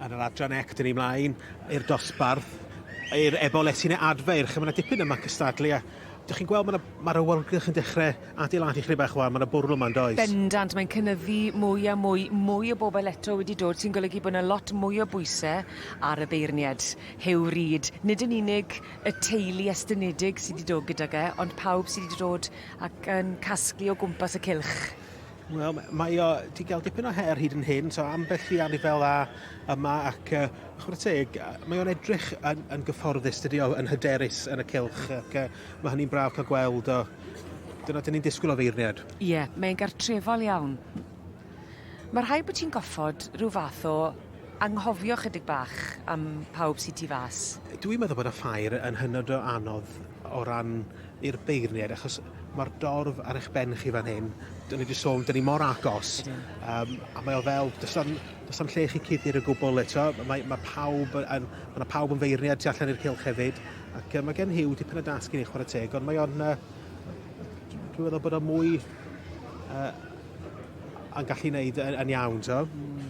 Yn yr adran ec, dyn ni mlaen i'r dosbarth, i'r ebol etine adfeir, lle mae yna dipyn yma cystadlu a Dych chi'n gweld mae yna mae'r awyrgylch yn dechrau adeiladu chri bach wan, mae yna bwrl yma yn does? Bendant, mae'n cynyddu mwy a mwy, mwy o bobl eto wedi dod sy'n golygu bod yna lot mwy o bwyse ar y beirnied. Huw Reid, nid yn unig y teulu estynedig sydd wedi dod gydag e, ond pawb sydd wedi dod ac yn casglu o gwmpas y cylch. Wel, mae o wedi cael dipyn o her hyd yn hyn, so ambell i anifel a yma ac uh, chwrdd teg, mae o'n edrych yn, yn gyfforddus, dydy o yn hyderus yn y cilch ac uh, mae hynny'n braf cael gweld o. Dyna dyn ni'n disgwyl o feirniad. Ie, yeah, mae'n gartrefol iawn. Mae rhai bod ti'n goffod rhyw fath o anghofio chydig bach am pawb sy'n ti fas. Dwi'n meddwl bod y ffair yn hynod o anodd o ran i'r beirniaid achos mae'r dorf ar eich ben chi fan hyn. Dyn ni wedi sôn, dyn ni mor agos. Um, a mae o fel, does am, does am lle chi cuddir y gwbl eto. Mae, mae pawb yn, mae pawb yn feirniaid tu allan i'r cilch hefyd. Ac um, mae gen Hugh dipyn o dasg i ni chwarae teg, ond mae o'n... Uh, dwi'n meddwl bod o'n mwy uh, yn gallu wneud yn, yn iawn, to. Mm.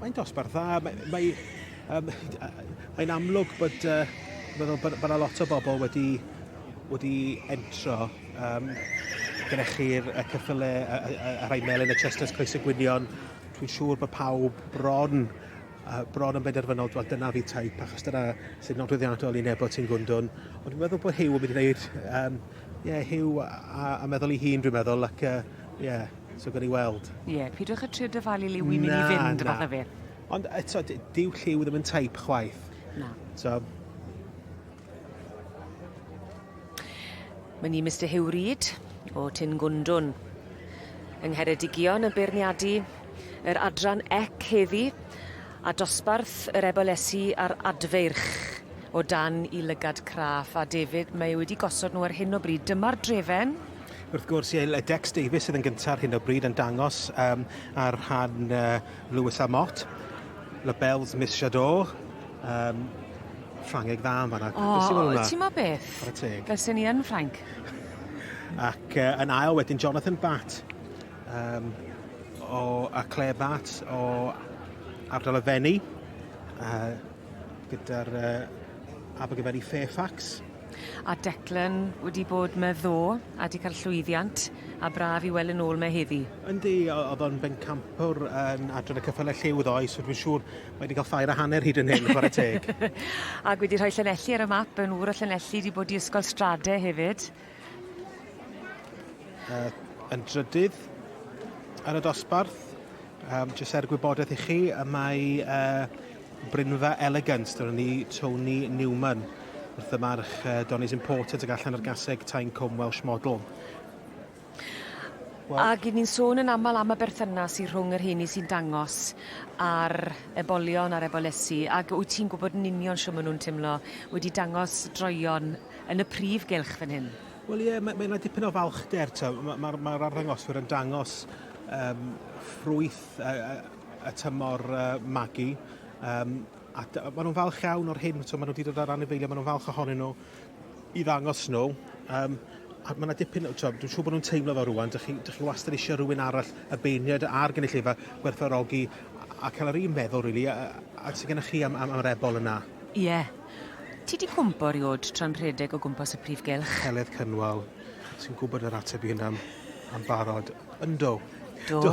Mae'n dosbarth dda. Mae, mae, um, mae'n amlwg bod, uh, meddwl, bod, bod a lot o bobl wedi, wedi entro. Um, gyda chi'r y cyffyle, y, y, y, y rhai melyn, y chesters, coes y gwynion. Dwi'n siŵr bod pawb bron uh, bron yn benderfynol, dwi'n dyna fi taip, achos dyna sy'n nodweddiadol i nebo ti'n gwndwn. Ond dwi'n meddwl bod Hugh yn mynd i wneud, um, yeah, Hugh a, a, a meddwl i hun, dwi'n meddwl, ac uh, yeah, So gawn ni weld. Ie, yeah, pidwch a trio dyfalu liw i'n mynd i fynd, fath o beth. Ond eto, dyw lliw ddim yn taip chwaith. Na. So, Mae ni Mr Hugh Reid o Tyn Gwndwn yng Ngheredigion yn beirniadu yr adran ec heddi a dosbarth yr ebolesu a'r adfeirch o dan i lygad craff a David mae e wedi gosod nhw ar hyn o bryd. Dyma'r drefen. Wrth gwrs, ie, y Dex Davies sydd yn gyntaf ar hyn o bryd yn dangos um, ar rhan uh, Lewis a Mott. Labels Miss Jadot, um, Ffrangeg dda yn fanna. O, oh, ti'n ma beth? Chwarae teg. Fel sy'n ni yn Ffranc. Ac uh, yn ail wedyn Jonathan Bat um, o, a Claire Bat o ardal y Fenni uh, gyda'r uh, Abergavenny Fairfax. A Declan wedi bod me ddo a di cael llwyddiant a braf i weld yn ôl me heddi. Yndi, oedd o'n bencampwr yn adran y cyffylau lliw ddoe, so dwi'n siŵr mae wedi cael ffair a hanner hyd yn hyn, chwarae teg. Ac wedi rhoi Llanelli ar y map, yn ŵr o Llanelli, wedi bod i Ysgol Strade hefyd. Uh, yn drydydd yn y dosbarth, um, jyst er gwybodaeth i chi, y mae uh, Brynfa Elegant, dyna ni, Tony Newman, wrth y march uh, Donny's Imported ag allan ar gaseg Tyne Combe Welsh Model. Well, Ac ni'n sôn yn aml am y berthynas i rhwng yr heini sy'n dangos a'r ebolion a'r ebolesi, ac wyt ti'n gwybod yn union sio maen nhw'n teimlo wedi dangos droion yn y prif gylch fan hyn? Wel ie, yeah, mae yna dipyn o falchder. Mae'r ma, ma, ma arddangoswyr yn dangos um, ffrwyth uh, y tymor uh, magu. Um, a maen nhw'n falch iawn o'r hyn, so maen nhw wedi dod ar anifeiliaid, maen nhw'n falch ohonyn nhw i ddangos nhw. Um, a mae yna dipyn, so, dwi'n siŵr bod nhw'n teimlo fel rwan, dych chi, dych chi wastad eisiau rhywun arall y beirniad a'r gynulleidfa gwerthfarogi a cael yr un meddwl, really, a, a sy'n gennych chi am, am, am yr ebol yna. Ie. Yeah. Ti di cwmpo riod tra'n rhedeg o gwmpas y prif gelch? Heledd Cynwal, sy'n gwybod yr ateb i hynna am, am barod. Yndo. Do. Do.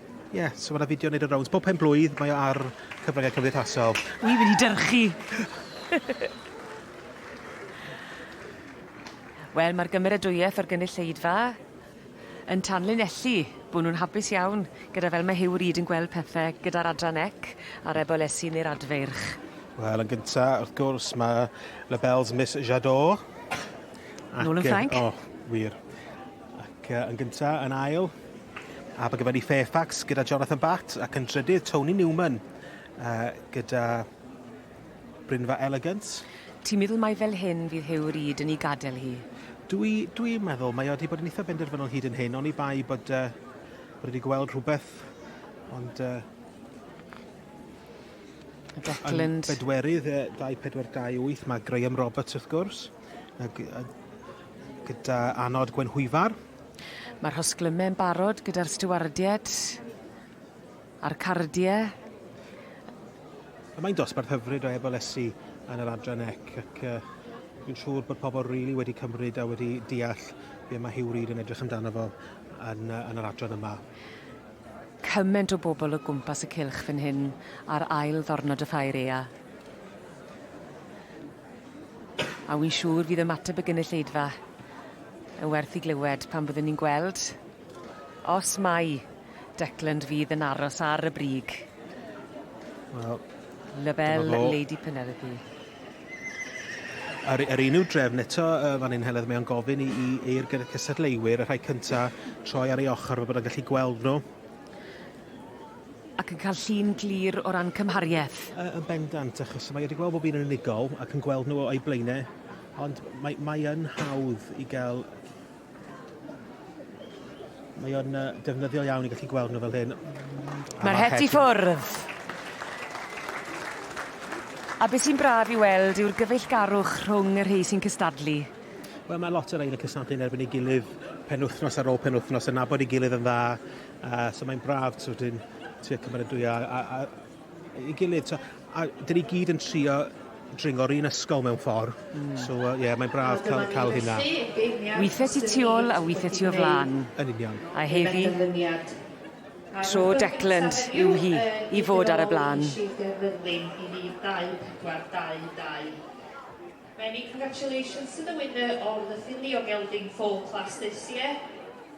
Ie, yeah, so mae'na fideo yn neud y rounds. Bob pen blwydd mae o ar cyfryngau cymdeithasol. Wi wedi dyrchu! Wel, mae'r gymeradwyaeth o'r gynulleidfa yn tanlinellu bod nhw'n hapus iawn gyda fel mae Huw Reid yn gweld pethau gyda'r adran ec a'r ebolesi neu'r adfeirch. Wel, yn gyntaf, wrth gwrs, mae Labelle's Miss Jadot. Ac, Nôl yn Ffrainc. O, oh, wir. Ac uh, yn gyntaf, yn ail, Abergavenny Fairfax gyda Jonathan Batt ac yn drydydd Tony Newman uh, gyda Brynfa Elegant. Ti'n meddwl mai fel hyn fydd Huw Reid yn ei gadael hi? Dwi, dwi meddwl, mae wedi bod yn eitha benderfynol hyd yn hyn, ond i bai bod, uh, bod wedi gweld rhywbeth, ond... Uh, Declan... Bedwerydd, uh, 2428, mae Graham Roberts wrth gwrs. Gyda anod Gwenhwyfar. Mae'r hosglymau yn barod gyda'r stiwardiaid a'r cardiau. Mae'n dosbarth hyfryd o ebolesu yn yr adran ec ac dwi'n siŵr bod pobl rili really wedi cymryd a wedi deall be mae Hugh Reid yn edrych amdano fo yn, yn yr adran yma cymaint o bobl o gwmpas y cylch fan hyn ar ail ddornod y ffair ea. A wy'n siŵr fydd ymateb y gynulleidfa yn werth i glywed pan fyddwn ni'n gweld os mai Declan fydd yn aros ar y brig. Wel, Label Lady Penelope. Ar, ar un i'w drefn eto, uh, fan hyn Heledd, mae o'n gofyn i, i eir gyda cystadleuwyr, y rhai cyntaf, troi ar ei ochr, fel bod yn gallu gweld nhw. Ac yn cael llun glir o ran cymhariaeth. Yy yn bendant, achos mae wedi gweld bob un yn unigol ac yn gweld nhw o'i blaenau, ond mae, mae yn hawdd i gael Mae o'n uh, defnyddiol iawn i gallu gweld nhw fel hyn. Mae'r het i ffwrdd. A beth sy'n braf i weld yw'r gyfeillgarwch rhwng y rhai sy'n cystadlu. Wel, mae lot o rhain yn cystadlu yn erbyn ei gilydd penwythnos ar ôl penwythnos, yn nabod ei gilydd yn dda, Uh, so mae'n braf, so dyn tua cymeradwyo a, a, a, i gilydd. So, a dyn ni gyd yn trio dringo'r un ysgol mewn ffordd. Mm. So, ie, uh, yeah, mae'n braf cael, cael hynna. Weithiau ti tu ôl a weithiau ti o flan. Yn union. A heddi, tro Decland yw hi i fod ar y blaen. Many congratulations to the winner of the Finley Gelding Foal Class this year.